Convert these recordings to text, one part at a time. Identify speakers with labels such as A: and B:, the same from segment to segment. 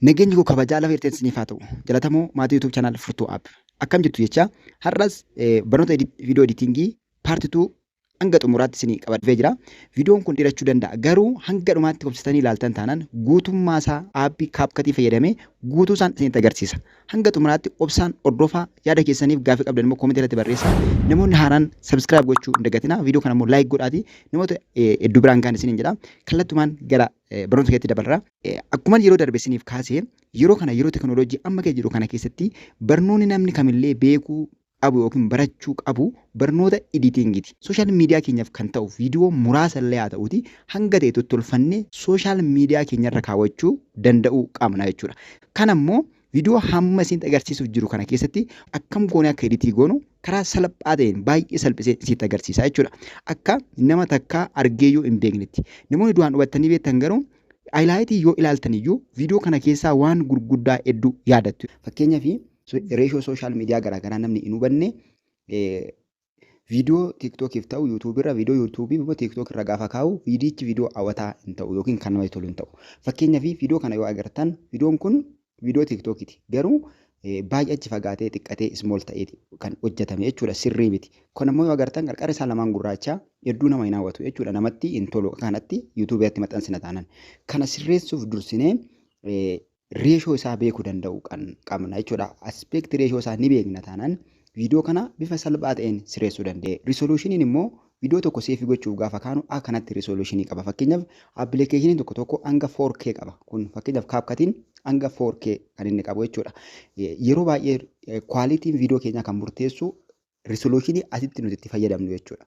A: Nageenyi koo kabajaa lafa irteen siniif haa ta'u. Jalatamoo maatii YouTube channel Furtuu App. Akkam jirtu jecha har'as barnoota video editingii part 2 hanga xumuraatti isinii qabadhee jira. Viidiyoon kun dheerachuu danda'a garuu hanga dhumaatti obsitanii ilaaltan taanaan guutummaa isaa aappii kaapkatii fayyadamee guutuu isaan isinitti agarsiisa. Hanga xumuraatti obsaan hordofaa yaada keessaniif gaaffii qabdan immoo koomentii irratti barreessaa. Namoonni haaraan sabiskiraayib gochuu hin dagatinaa. Viidiyoo kana immoo laayik godhaatii namoota hedduu biraan gahan isiniin jedha. Kallattumaan gara barnoota keetti dabarraa. Akkuma yeroo darbe isiniif kaase yeroo kana yeroo tekinooloojii amma keessa jiru kana keessatti barnoonni namni kamillee beekuu qabu yookiin barachuu qabu barnoota editingiti. Sooshaal miidiyaa keenyaaf kan ta'u viidiyoo muraasa illee haa ta'uti hanga ta'e tottolfanne sooshaal miidiyaa keenyarra kaawwachuu danda'uu qabna jechuudha. Kana immoo viidiyoo hamma isinitti agarsiisuuf jiru kana keessatti akkam goonee akka editii goonu karaa salphaa ta'een baay'ee salphisee isinitti agarsiisa jechuudha. Akka nama takkaa argeeyyuu hin beeknetti. Namoonni duraan hubattanii beektan garuu Aylaayitii yoo ilaaltan iyyuu viidiyoo kana keessaa waan gurguddaa hedduu yaadattu. Fakkeenyaaf reeshoo sooshaal miidiyaa garaagaraa namni hin hubanne viidiyoo tiiktookiif ta'u yuutuubirra viidiyoo yuutuubii immoo tiiktookirra gaafa kaa'u viidiyichi viidiyoo hawwataa hin ta'u yookiin kan namatti tolu hin ta'u. Fakkeenyaaf viidiyoo kana yoo agartan viidiyoon kun Viidiyoo tiktokiti garuu baay'ee achi fagaatee xiqqatee small ta'eeti kan hojjetame jechuudha sirrii miti kun ammoo yoo agartan qarqara isaa lamaan gurraacha hedduu nama hin hawwatu jechuudha namatti hin tolu akka kanatti yuutuubii irratti maxxansina taanan kana sirreessuuf dursinee reeshoo isaa beekuu danda'u kan qabna jechuudha. Aspeekti reeshoo isaa ni beekna taanaan viidiyoo kana bifa salphaa ta'een sirreessuu dandeenya. Risoluushiniin immoo Video tokko save gochuuf gaafa kaanu akka kanatti resolution qaba. Fakkeenyaaf application tokko tokko hanga 4K qaba. Kun fakkeenyaaf CapCut'n hanga 4K kan inni qabu jechuudha. Yeroo baay'ee quality video keenyaa kan murteessu resolution asitti nuti itti fayyadamnu jechuudha.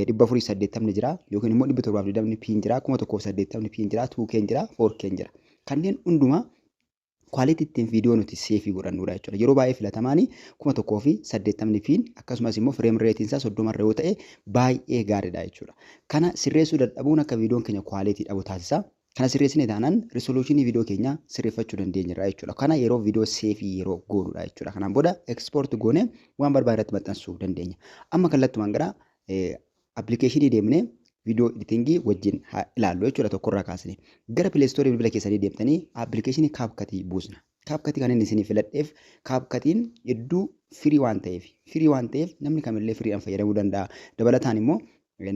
A: dhibba afurii saddeettamni jira yookiin immoo dhibba torbaaf digdamni piin jira kuma tokkoof saddeettamni piin jira tuukeen jira foorkeen jira kanneen hundumaa Quality ittiin viidiyoo nuti seefii godhannuudha jechuudha. Yeroo baay'ee filatamaani kuma tokkoo fi saddeettamni piin akkasumas immoo fireem reetiin isaa soddoma irra yoo ta'e baay'ee gaariidha jechuudha. Kana sirreessuu dadhabuun akka viidiyoon keenya quality dhabu taasisa. Kana sirreessine taanaan risoluushinii viidiyoo keenya sirreeffachuu dandeenyerra jechuudha. Kana yeroo viidiyoo seefii yeroo goonudha jechuudha. Kanaan booda export goone waan barbaade irratti maxxansuu dandeenya. Amma kallattumaan gara application deemne video editing wajjin haa ilaallu jechuudha tokkorraa kaasne. Gara Play Store bilbila keessanii deemtanii application CapCut buusna. CapCut kan inni isinii filadheef CapCutiin hedduu firii waan ta'eef firii waan ta'eef namni kamillee firiidhaan fayyadamuu danda'a. Dabalataan immoo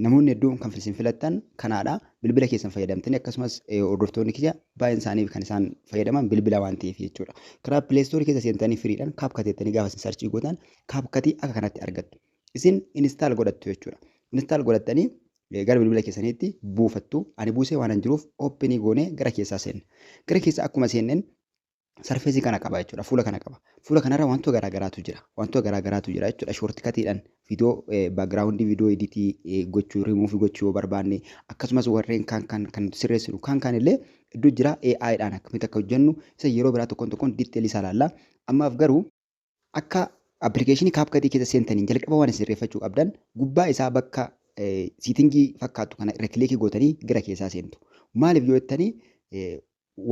A: namoonni hedduun kan isin filattan kanaadha. Bilbila keessan fayyadamtanii akkasumas hordoftoonni kiyya baay'een isaanii kan isaan fayyadaman bilbila waan ta'eef jechuudha. Karaa Play Store keessa seentanii firiidhaan CapCut jettanii gaafa isin sarchii gootan CapCut akka kanatti argattu. isin install godhattu jechuudha. Install godhattanii eh, gara bilbila keessaniitti buufattu. Ani buusee waanan jiruuf open goonee gara keessaa seenna. Gara keessaa akkuma seenneen sarfeesii kana qaba jechuudha. Fuula kana qaba. Fuula kanarra wantoota garaa garaatu jira. Wantoota garaa garaatu jira jechuudha. Shoortikatiidhaan viidiyoo baagiraawundii viidiyoo editii eh, gochuu rimuufi gochuu yoo barbaanne akkasumas warreen kaan kan kan nuti sirreessinu kaan kaan illee iddoo jira AI dhaan akkamitti akka hojjennu isa yeroo biraa tokkoon tokkoon diiteelii isaa ilaalla. Ammaaf garuu Akka application CapCut keessa seentaniin jalqaba waan sirreeffachuu qabdan gubbaa isaa bakka siitingii fakkaattu kana irra kiliikii gootanii gara keessaa seentu. Maaliif yoo jettanii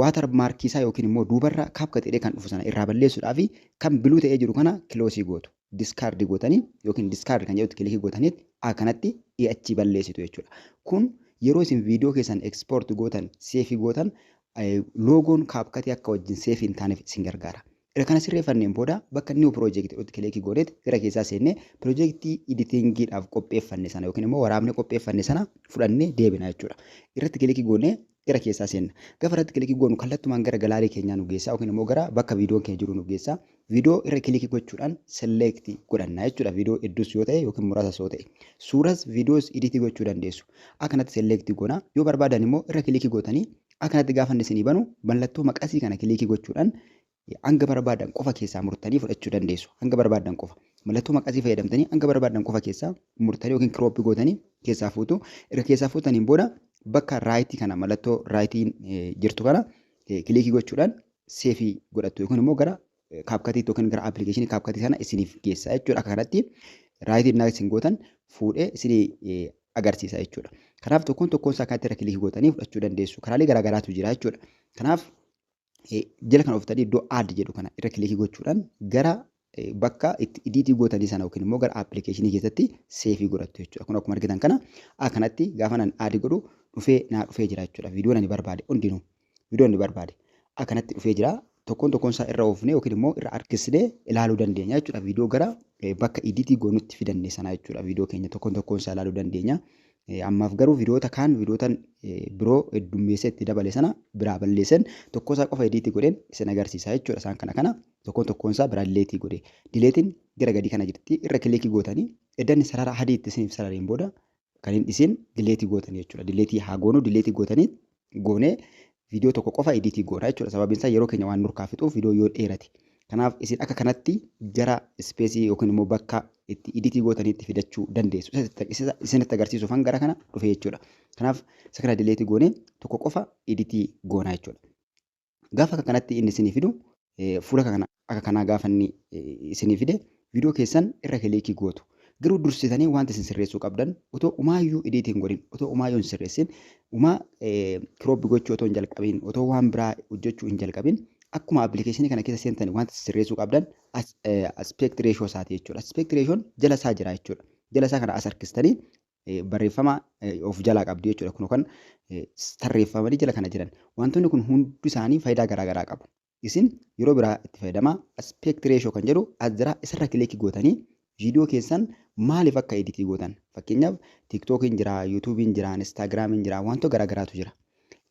A: waatar maarkii isaa yookiin immoo duubarra CapCut jedhee kan dhufu sana irraa balleessuudhaaf kan biluu ta'ee jiru kana kiloosii gootu. Diskaardi gootanii yookiin diskaardi kan jedhutti kiliikii gootanii akkanatti achii balleessitu jechuudha. Kun yeroo isin viidiyoo keessan ekspoort gootan seefii gootan loogoon CapCut akka wajjin seefii hin taaneef isin gargaara. Erga kana sirreeffanneen booda bakka New Project irratti kiliikii gooneet gara keessaa seennee piroojeektii iditiingiidhaaf qopheeffanne sana yookiin immoo waraabnee qopheeffanne sana fudhannee deebina jechuudha. Irratti kiliikii goonee gara keessaa seenna. Gafa irratti kiliikii goonu kallattumaan gara galaarii keenyaa nu geessaa yookiin immoo gara bakka viidiyoon keenya jiru nu geessaa. Viidiyoo irra kiliikii gochuudhaan select godhanna jechuudha. Viidiyoo hedduus yoo ta'e yookiin muraasas yoo ta'e. Suuras viidiyoos iditii gochuu dandeessu. Akkanatti select goona. Yoo barbaadan immoo irra kiliikii gootanii Akka kanatti gaafa inni isinii banu mallattoo maqasii kana kiliikii gochuudhaan hanga barbaadan qofa keessaa murtanii fudhachuu dandeessu. Hanga barbaadan qofa. Mallattoo maqasii fayyadamtanii hanga barbaadan qofa keessaa murtanii yookiin kirooppii gootanii keessaa fuutu. Erga keessaa fuutaniin booda bakka raayitii kana mallattoo raayitiin jirtu kana kiliikii gochuudhaan seefii godhattu yookiin immoo gara kaapkatii yookiin gara appilikeeshinii kaapkatii sana isiniif geessa jechuudha. Akka kanatti raayitii innaa isin gootan fuudhee isin agarsiisa jechuudha. Kanaaf tokkoon tokkoon isaa kanatti irra kilikii gootanii fudhachuu dandeessu. Karaalee garaa garaatu jira jechuudha. Kanaaf jala kana oftanii iddoo aad jedhu kana irra kilikii gochuudhaan gara bakka itti idiitii gootanii sana yookiin immoo gara appilikeeshinii keessatti seefii godhattu jechuudha. Kun akkuma argitan kana akkanatti gaafa nan aadi godhu dhufee naa dhufee jira jechuudha. Viidiyoon ani barbaade hundinuu. Viidiyoon nu barbaade akkanatti dhufee jira. Tokkoon tokkoon isaa irra oofnee yookiin immoo irra harkisnee ilaaluu dandeenya jechuudha. Viidiyoo gara bakka idiitii goonutti fidanne sana jechuudha. Viidiyoo keenya tokkoon tokkoon isaa ilaaluu dandeenya. Ammaaf garuu viidiyoota kaan viidiyoota biroo heddummeessee itti dabale sana biraa balleessan tokko isaa qofa idiitii godheen isin agarsiisa jechuudha. Isaan kana kana tokkoon tokkoon isaa biraa dileetii godhe. Dileetiin gara gadii kana jirti irra kilikii gootanii eddan sarara adii itti isiniif sarareen booda kan hin dhisin dileetii gootanii jechuudha. Dileetii haa goonuu dileetii gootanii goonee viidiyoo tokko qofa ediitii goona jechuudha. Sababiin isaa yeroo keenya waan nurkaa fixuuf viidiyoo yoo dheerate. Kanaaf isin akka kanatti gara ispeesii yookiin immoo bakka itti ediitii gootaniitti fidachuu dandeessu. Isinitti agarsiisuufan gara kana dhufe jechuudha. Kanaaf isa kana dileetii goonee tokko qofa ediitii goona jechuudha. Gaafa akka kanatti inni isinii fidu fuula akka kanaa gaafa inni isinii fide viidiyoo keessan irra kiliikii gootu. Garuu dursitanii wanti isin sirreessuu qabdan otoo umaayyuu idiitii hin godhin otoo umaayyuu hin sirreessin umaa kirooppi gochuu otoo hin jalqabin otoo waan biraa hojjechuu hin jalqabin akkuma appilikeeshinii kana keessa seentanii wanti isin sirreessuu qabdan aspect ratio isaati jechuudha. Aspect ratioon jala isaa jira jechuudha. Jala isaa kana as harkistanii barreeffama of jalaa qabdu jechuudha. Kun kan tarreeffamanii jala kana jiran. Wantoonni kun hundi isaanii faayidaa garaa garaa qabu. Isin yeroo biraa itti fayyadamaa aspect ratio kan jedhu as jira isarra kileekii gootanii viidiyoo keessan maaliif akka editii gootan fakkeenyaaf tiiktookiin jira yuutuubiin jira instaagiraamiin jira wantoota garaa garaatu jira.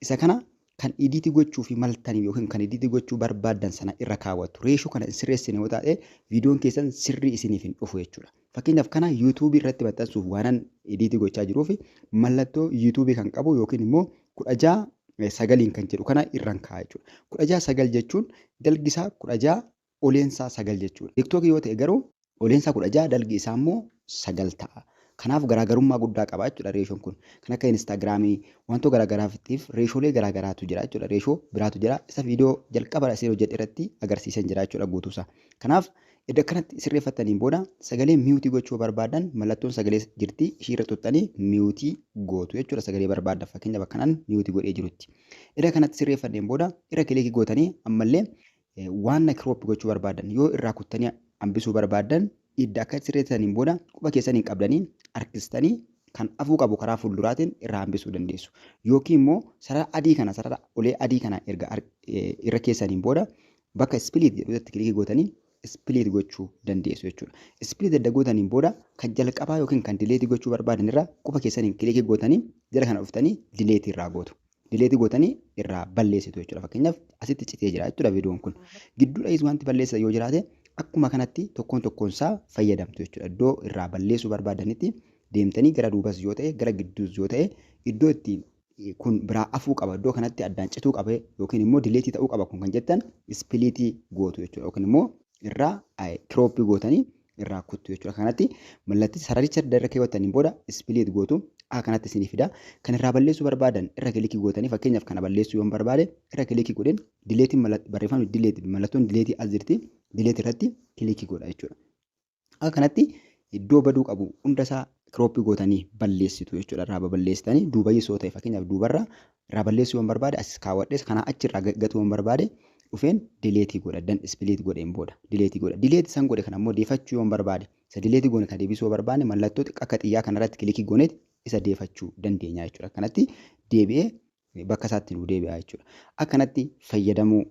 A: Isa kana kan idiiti gochuufi maltan yookiin kan idiiti gochuu barbaaddan sana irra kaawwattu. Reeshoo kana hin sirreessine yoo taate viidiyoon keessan sirrii isiniif hin dhufu jechuudha. Fakkeenyaaf kana yuutuubii irratti maxxansuuf waanan idiiti gochaa jiruuf mallattoo yuutuubii kan qabu yookiin immoo kudha ja'a sagaliin kan jedhu kana irran kaa'a jechuudha. Kudha ja'a sagal jechuun dalgisaa kudha ja'a oleensaa 9 jechuudha. Tiktok yoo ta'e garuu oleensaa 16 dalgi isaa immoo 9 ta'a. Kanaaf garaagarummaa guddaa qaba jechuudha reeshoon kun. Kan akka Instaagiraamii wantoota garaagaraatiif reeshoolee garaagaraatu jira jechuudha. Reeshoo biraatu jira. Isa viidiyoo jalqaba asii hojjedhe irratti agarsiiseen jira jechuudha guutuusaa. Kanaaf edda akkanatti sirreeffattaniin booda sagalee miyuutii gochuu barbaadan mallattoon sagalee jirti ishii irra tuttanii miyuutii gootu jechuudha sagalee barbaadan fakkeenyaaf akkanaan miyuutii godhee jirutti. Edda kanatti sirreeffanneen booda irra kiliikii gootanii ammallee Waanna crop gochuu barbaaddan yoo irraa kuttanii hambisuu barbaaddan idda akka sirreessaniin booda quba keessan hin qabdanii harkistanii kan afuu qabu karaa fuulduraatiin irraa hambisuu dandeessu. Yookiin immoo sarara adii kana sarara olee adii kana erga irra keessaniin booda bakka split jedhutti kilikii gootanii split gochuu dandeessu jechuudha. Split edda gootaniin booda kan jalqabaa yookiin kan dileetii gochuu barbaadan irra quba keessaniin kilikii gootanii jala kana dhuftanii dileetii irraa gootu. dileeti gootanii irraa balleessitu jechuudha. Fakkeenyaaf asitti citee jira jechuudha viidiyoon kun. Gidduudhayis wanti balleessitan yoo jiraate akkuma kanatti tokkoon tokkoon isaa fayyadamtu jechuudha. Iddoo irraa balleessuu barbaadanitti deemtanii gara duubas yoo ta'e gara gidduus yoo ta'e iddoo itti kun biraa afuu qaba iddoo kanatti addaan cituu qaba yookiin immoo dileetii ta'uu qaba kun kan jettan ispiliitii gootu jechuudha yookiin immoo irraa kirooppii gootanii irraa kuttu jechuudha. Kanatti mallatti sararicha adda irra keewwattaniin booda ispiliit gootu A kanatti isinii fida. Kan irraa balleessuu barbaadan irra kilikii gootanii fakkeenyaaf kana balleessuu yoon barbaade irra kilikii godheen dileetiin barreeffamni dileeti mallattoon dileetii as jirti dileetii irratti kilikii godha jechuudha. A kanatti iddoo baduu qabu hundasaa kirooppii gootanii balleessitu jechuudha. Irraa baballeessitanii duubayyisoo ta'e fakkeenyaaf duubarraa irraa balleessuu yoon barbaade as kaawwadhees kanaa achi irraa gatuu yoon barbaade dhufeen dileetii godha dan ispiliit godheen booda dileetii godha dileetii san godhe kan ammoo deefachuu yoon barbaade isa dileetii goone ka deebisuu yoo barbaanne mallattoo xiqqaa akka xiyyaa kana irratti kilikii gooneet isa deefachuu dandeenya jechuudha akkanatti deebi'ee bakka isaatti nuu deebi'a jechuudha akkanatti fayyadamuu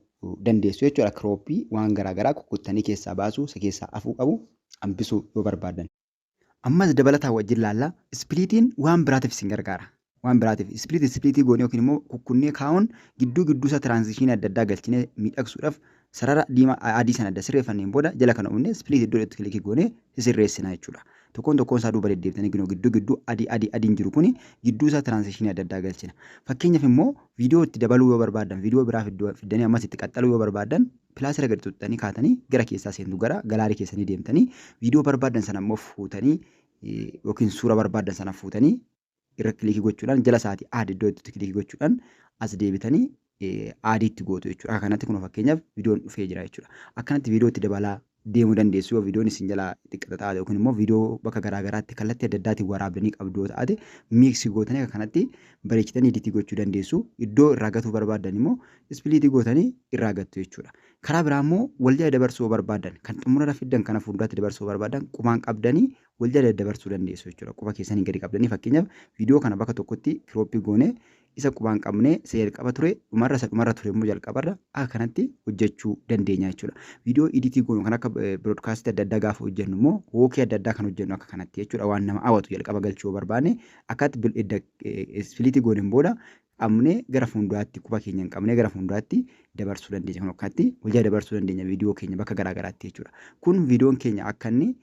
A: dandeessu jechuudha kirooppii waan garaa garaa kukkuttanii keessaa baasuu isa keessaa afuu qabu hambisuu yoo barbaaddan. Ammas dabalataan wajjin laalla. Ispiliitiin waan biraatiif isin gargaara. Waan biraatiif ispiliit ispiliitii goonee yookiin immoo kukkunnee kaa'uun gidduu gidduu isaa tiraanzishiinii adda addaa galchinee miidhagsuudhaaf sarara diimaa adii sana adda sirreeffanneen booda jala kana uumnee ispiliit iddoo itti kilikii goonee sisirreessina jechuudha. Tokkoon tokkoon isaa duuba deddeebitanii ginoo gidduu gidduu adii adii adiin jiru kuni gidduu isaa tiraanzishiinii adda addaa galchina. Fakkeenyaaf immoo viidiyoo itti dabaluu yoo barbaaddan viidiyoo biraa fiddanii ammas itti qaxxaluu yoo barbaaddan Pilaas irra gadi tuttanii kaatanii gara keessaa seentu gara galaarii keessanii deemtanii viidiyoo barbaadan sana immoo fuutanii yookiin suura barbaadan sana fuutanii irra kilikii gochuudhaan jala isaati aad iddoo itti kilikii gochuudhaan as deebitanii aadiitti gootu jechuudha. Akka kanatti kun fakkeenyaaf viidiyoon dhufee jira jechuudha. Akkanatti viidiyootti dabalaa deemu dandeessu yoo viidiyoon isin jalaa xiqqata taate yookiin immoo viidiyoo bakka garaa garaatti kallattii adda addaatiin waraabdanii qabdu yoo taate miiksi gootanii akka kanatti bareechitanii iditii gochuu dandeessu iddoo irraa gatuu barbaaddan immoo ispiliitii gootanii irraa gattu jechuudha. Karaa biraa immoo wal jala dabarsuu yoo barbaaddan kan xumurarra fiddan kana fuulduraatti dabarsuu yoo barbaaddan qubaan qabdanii wal jala daddabarsuu dandeessu jechuudha. Quba keessanii gadi qabdanii fakkeenyaaf viidiyoo kana bakka tokkotti kirooppii goonee isa qubaan qabne isa jalqaba ture dhumarra isa dhumarra ture immoo jalqabarra akka kanatti hojjechuu dandeenya jechuudha. Viidiyoo iditii goonu kan akka biroodkaastii adda addaa gaafa hojjennu immoo wookii adda addaa kan hojjennu akka kanatti jechuudha waan nama hawwatu jalqaba galchuu barbaanne akkatti ispiliitii gooneen booda qabnee gara fuulduraatti quba keenya hin qabnee gara fuulduraatti dabarsuu dandeenya kan akkatti hojjaa dabarsuu dandeenya viidiyoo keenya bakka garaa garaatti jechuudha. Kun viidiyoon keenya akka inni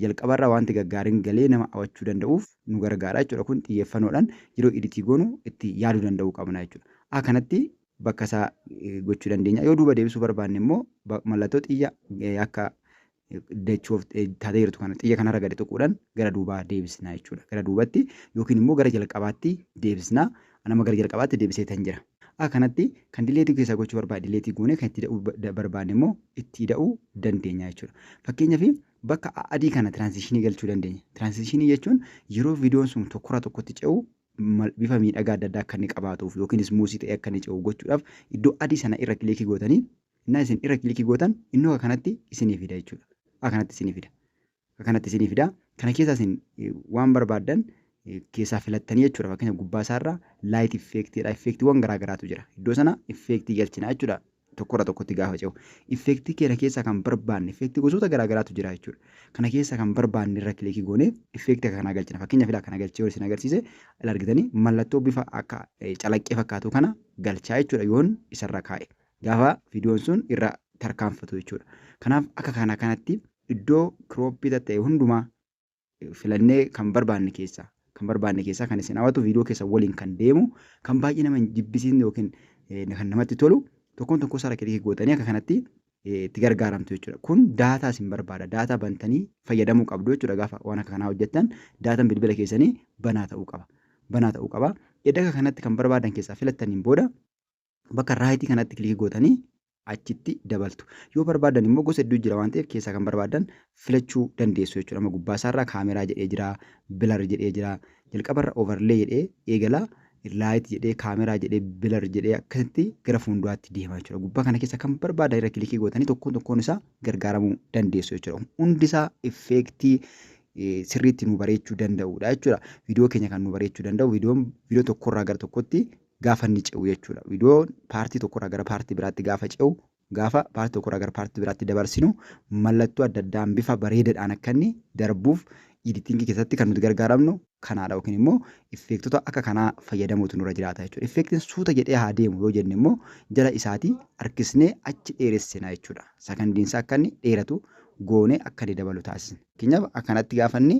A: Jalqabarraa waanti gaggaarin galee nama awachuu danda'uuf nu gargaara jechuudha. Kun xiyyeeffanoodhan yeroo editii goonu itti yaadu danda'uu qabna jechuudha. A kanatti bakka isaa gochuu dandeenya. Yoo duuba deebisuu barbaanne immoo mallattoo xiyya akka dachuuf taatee jirtu kana xiyya kanarra gadi tuquudhan gara duubaa deebisna jechuudha. Gara duubatti yookiin immoo gara jalqabaatti deebisna. Nama gara jalqabaatti deebiseetan jira. a kanatti kan dileetii keessaa gochuu barbaade dileetii goone kan itti ida'uu ba- da- barbaanne immoo itti ida'uu dandeenya jechuudha. Fakkeenyaaf bakka a- adii kana tiraansiishinii galchuu dandeenya. Tiraansiishinii jechuun yeroo viidiyoon sun tokkorraa tokkotti ce'u mal- bifa miidhagaa adda addaa akka inni qabaatuuf yookiin ismuusii ta'ee akka inni ce'u gochuudhaaf iddoo adii sana irra kilikii gootanii innaa isin irra kilikii gootan innoo kanatti isinii fida jechuudha. A kanatti isinii fida. akka kanatti isinii fida. Kana keessaa isin waan barbaaddan keessaa filattanii jechuudha. Fakkeenya gubbaa isaarra light effect jedha. Effectiiwwan garaa garaatu jira. Iddoo sana effectii galchina jechuudha. Tokkorra tokkotti gaafa ce'u. Effectii keenya keessaa kan barbaanne effectii gosoota garaa garaatu jira jechuudha. Kana keessaa kan barbaanne irra kilikii goone effectii akka kanaa galchina. Fakkeenya filaa kana galchee isin agarsiise al argitanii mallattoo bifa akka calaqqee fakkaatu kana galchaa jechuudha yoon isarra kaa'e. Gaafa viidiyoon sun irra tarkaanfatu jechuudha. Kanaaf akka kana kanatti iddoo crop tatta'e hundumaa filannee kan barbaanne keessaa kan barbaanne keessaa kan isin hawatu viidiyoo keessan waliin kan deemu kan baay'ee nama hin jibbisiisne yookiin kan namatti tolu tokkoon tokkoo isaa kiliki gootanii akka kanatti itti gargaaramtu jechuudha. Kun daataa isin barbaada. Daataa bantanii fayyadamuu qabdu jechuudha gaafa waan akka kanaa hojjettan daataan bilbila keessanii banaa ta'uu qaba. Banaa ta'uu qaba. Edda akka kanatti kan barbaadan keessaa filattaniin booda bakka raayitii kanatti kilikii gootanii achitti dabaltu. Yoo barbaaddan immoo gosa hedduu jira waan ta'eef keessaa kan barbaaddan filachuu dandeessu jechuudha. Amma gubbaa isaarraa kaameraa jedhee jira, bilar jedhee jira. Jalqabarra overlay jedhee eegala, light jedhee, kaameraa jedhee, bilar jedhee akkasitti gara fuulduraatti deema jechuudha. Gubbaa kana keessa kan barbaaddan irra kilikii gootanii tokkoon tokkoon isaa gargaaramuu dandeessu jechuudha. Hundi isaa effeektii sirriitti nu bareechuu danda'udha jechuudha. Viidiyoo keenya kan nu bareechuu danda'u viidiyoon viidiyoo tokkorraa gara tokkotti gaafa inni ce'u jechuudha. Viidiyoon paartii tokkorraa gara paartii biraatti gaafa ce'u gaafa paartii tokkorraa gara paartii biraatti dabarsinu mallattoo adda addaan bifa bareedaadhaan akka inni darbuuf editingii keessatti kan nuti gargaaramnu kanaadha yookiin immoo effeektota akka kanaa fayyadamuutu nurra jiraata jechuudha. Effeektiin suuta jedhee haa deemu yoo jenne immoo jala isaatii harkisnee achi dheeressina jechuudha. Sakandiinsaa akka inni dheeratu goonee akka inni dabalu taasisna. Fakkeenyaaf akkanatti gaafa inni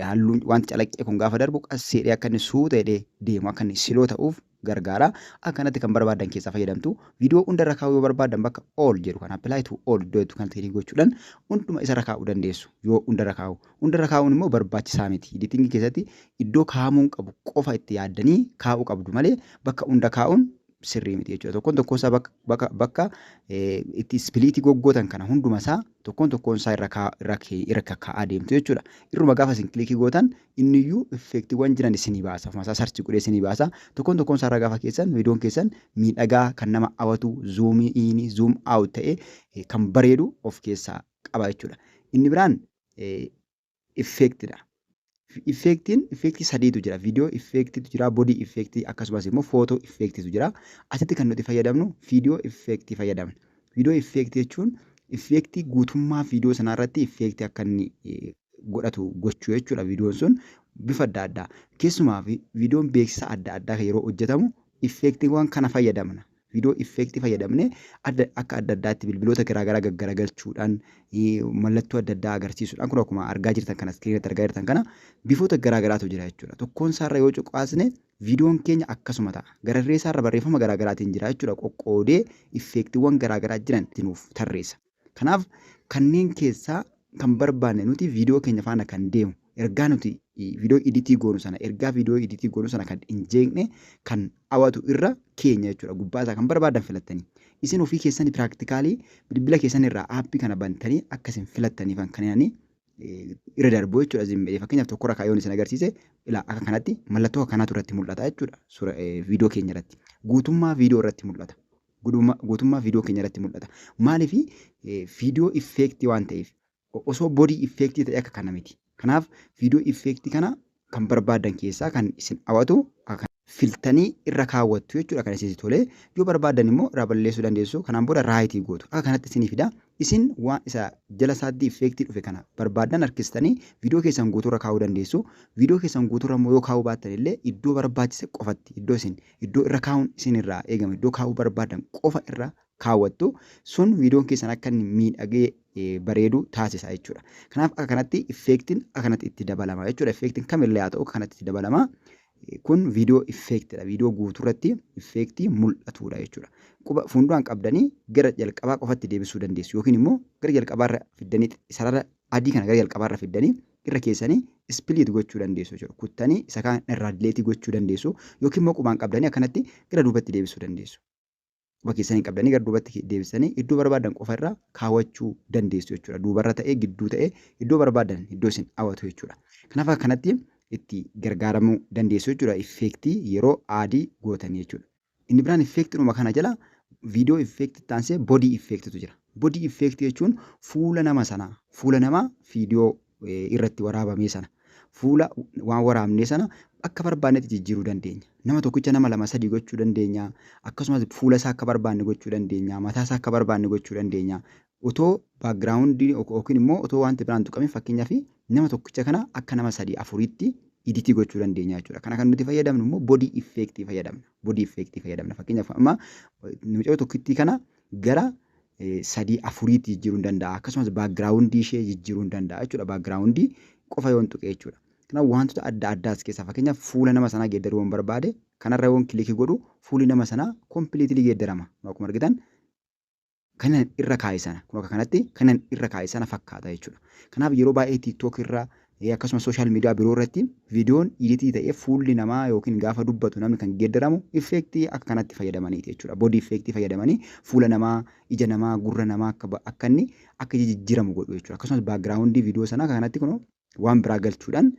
A: halluun wanti calaqqee kun gaafa darbu qasseedhee akka inni suuta jedhee deemu akka inni siloo ta'uuf gargaara. Akkanatti kan barbaadan keessaa fayyadamtu. Viidiyoo hundarra kaa'uu yoo barbaadan bakka all jedhu kan apply to all iddoo jettu kanatti kilik gochuudhaan hunduma isarra kaa'uu dandeessu yoo hundarra kaa'u. Hundarra kaa'uun immoo barbaachisaa miti. Editingii keessatti iddoo kaa'amuun qabu qofa itti yaaddanii kaa'uu qabdu malee bakka hunda kaa'uun sirrii miti jechuudha. Tokkoon tokkoon isaa bakka, bakka, bakka eh, itti ispiliitii goggootan kana hunduma isaa tokkoon tokkoon isaa irra kaa- irra kee- irra kakkaa'aa deemtu jechuudha. Irruma gaafa isin kilikii gootan inni iyyuu effeektiiwwan jiran isinii baasa. Ofuma isaa sarchi godhee isinii baasa. Tokkoon tokkoon isaa irra gaafa keessan viidiyoon keessan miidhagaa kan nama hawatu zuumii iini zuum aawut ta'ee eh, kan bareedu of keessaa qaba jechuudha. Inni biraan eh, effect dha. Effectiin effectii sadiitu jira. Video effectitu jira, body effect akkasumas immoo photo effectitu jira. Asitti kan nuti fayyadamnu video effect fayyadamna. Video effect jechuun effectii guutummaa video sanaa irratti effect akka inni godhatu gochuu jechuudha videon sun bifa adda addaa. Keessumaa fi videon beeksisa adda addaa yeroo hojjetamu effectiiwwan kana fayyadamna. Viidiyoo effect fayyadamne adda akka adda addaatti bilbiloota garaagaraa gaggaragalchuudhaan mallattoo adda addaa agarsiisuudhaan kun akkuma argaa jirtan kana iskiriin irratti argaa jirtan kana bifoota garaagaraatu jira jechuudha. Tokkoon isaarra yoo cuqaasne viidiyoon keenya akkasuma ta'a. Gararree isaarra barreeffama garaagaraatiin jira jechuudha qoqqoodee effeektiiwwan garaagaraa jiran itti nuuf tarreessa. Kanaaf kanneen keessaa kan barbaanne nuti viidiyoo keenya faana kan deemu ergaa nuti viidiyoo iditii goonu sana ergaa viidiyoo iditii goonu sana kan hin jeeqne kan hawatu irra keenya jechuudha gubbaa isaa kan barbaadan filattanii isin ofii keessanii piraaktikaalii bilbila keessan irraa aappii kana bantanii akka isin filattaniifan kan inni irra darbu jechuudha isin midhee fakkeenyaaf tokko irra kaayyoon isin agarsiise ilaa akka kanatti mallattoo kanatu irratti mul'ata jechuudha suura viidiyoo keenya irratti guutummaa viidiyoo irratti mul'ata Gudumaa guutummaa viidiyoo keenya irratti mul'ata. Maaliif viidiyoo effeektii waan ta'eef osoo bodii effeektii ta'e akka kana miti. Kanaaf viidiyoo effeektii kana kan barbaadan keessaa kan isin hawatu filtanii irra kaawwattu jechuudha kan isinsi tole yoo barbaadan immoo irraa balleessuu dandeessu kanaan booda raayitii gootu akka kanatti isinii fida isin waan isa jala isaatti effeektii dhufe kana barbaadan harkistanii viidiyoo keessan guutuurra kaa'uu dandeessu viidiyoo keessan guutuurra immoo yoo kaa'uu baattan illee iddoo barbaachise qofatti iddoo isin iddoo irra kaa'uun isin irraa eegama iddoo kaa'uu barbaadan qofa irra kaawwattu sun viidiyoon keessan akka inni miidhagee bareedu taasisa jechuudha. Kanaaf akka kanatti effeektiin akka kanatti itti dabalama jechuudha. Effeektiin kamillee haa ta'u akka kanatti itti dabalama. Kun viidiyoo effeektidha. Viidiyoo guutuu irratti effeektii mul'atudha jechuudha. Quba fuunduraan qabdanii gara jalqabaa qofatti deebisuu dandeessu yookiin immoo gara jalqabaarra fiddanii sarara adii kana gara jalqabaarra fiddanii irra keessanii split gochuu dandeessu jechuudha. Kuttanii isa kaan irraa delete gochuu dandeessu yookiin immoo qubaan qabdanii akkanatti gara duubatti deebisuu dandeessu. Quba keessaniin qabdanii gara duubatti deebisanii iddoo barbaadan qofa irra kaawwachuu dandeessu jechuudha. Duubarra ta'ee gidduu ta'ee iddoo barbaadan iddoo isin hawwatu jechuudha. Kanaaf akkanatti itti gargaaramuu dandeessu jechuudha effeektii yeroo aadii gootan jechuudha. Inni biraan effeektidhuma kana jala viidiyoo effeektii itti aansee bodii effeektitu jira. Bodii effeektii jechuun fuula nama sanaa, fuula namaa viidiyoo irratti waraabamee sana, fuula waan waraabnee sana akka barbaannetti jijjiiruu dandeenya. Nama tokkicha nama lama sadii gochuu dandeenya. Akkasumas fuula isaa akka barbaanne gochuu dandeenya. Mataa isaa akka barbaanne gochuu dandeenya. Otoo background yookiin immoo otoo wanti biraan tuqamin fakkeenyaaf nama tokkicha kana akka nama sadii afuriitti iditii gochuu dandeenya jechuudha. Kana kan nuti fayyadamnu immoo body effect fayyadamna. Body effect fayyadamna. Fakkeenyaaf amma mucayoo tokkittii kana gara sadii afuriitti jijjiiruun danda'a. Akkasumas background ishee jijjiiruun danda'a jechuudha. Background qofa yoon tuqe jechuudha. Kanaaf wantoota adda addaa as keessaa fakkeenyaaf fuula nama sanaa geeddaruu yoon barbaade kanarra yoon kilikii godhu fuulli nama sanaa completely geeddarama. Akkuma argitan kanan irra kaa'e sana kun akka kanatti kanan irra kaa'e sana fakkaata jechuudha. Kanaaf yeroo baay'ee TikTok irra akkasumas sooshaal miidiyaa biroo irratti viidiyoon iditii ta'ee fuulli namaa yookiin gaafa dubbatu namni kan geeddaramu effeektii akka kanatti fayyadamaniiti jechuudha. Boodii effeektii fayyadamanii fuula namaa, ija namaa, gurra namaa akka inni akka jijjiiramu godhu jechuudha. Akkasumas baakgiraawundii viidiyoo sanaa akka kanatti kunoo waan biraa galchuudhaan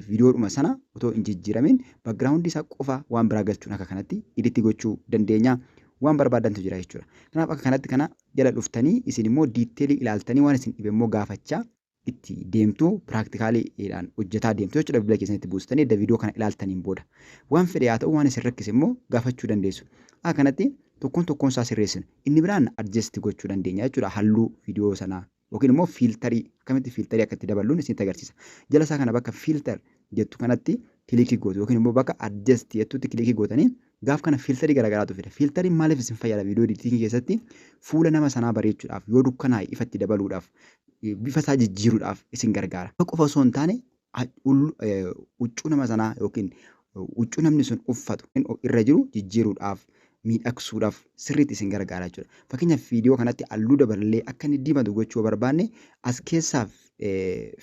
A: viidiyoodhuma sana otoo hin jijjiiramiin background isaa qofa waan biraa galchuun akka kanatti iditti gochuu dandeenya. Waan barbaadantu jira jechuudha. Kanaaf akka kanatti kana jala dhuftanii isin immoo diitteelii ilaaltanii waan isin dhibe immoo gaafachaa itti deemtu piraaktikaalidhaan hojjetaa deemtu jechuudha bilbila keessanitti buustanii edda viidiyoo kana ilaaltaniin booda. Waan fedhe haa ta'u waan isin rakkise immoo gaafachuu dandeessu. Akka kanatti tokkoon tokkoon isaa sirreessinu. Inni biraan adjasti gochuu dandeenya jechuudha halluu viidiyoo sanaa yookiin immoo fiiltarii akkamitti fiiltarii akka itti daballuun isinitti agarsiisa. Jala isaa kana bakka fiiltar jettu kanatti kilikii gootu yookiin immoo bakka adjust jettutti kilikii gootanii gaaf kana fiiltarii garaagaraatu fida. Fiiltariin maaliif isin fayyada viidiyoo editingii keessatti fuula nama sanaa bareechuudhaaf yoo dukkanaa'e ifatti dabaluudhaaf bifa isaa jijjiiruudhaaf isin gargaara. Qofa osoo hin taane huccuu nama sanaa yookiin huccuu namni sun uffatu irra jiru jijjiiruudhaaf miidhagsuudhaaf sirriitti isin gargaara jechuudha. Fakkeenyaaf viidiyoo kanatti halluu daballee akka inni diimatu gochuu yoo barbaanne as keessaa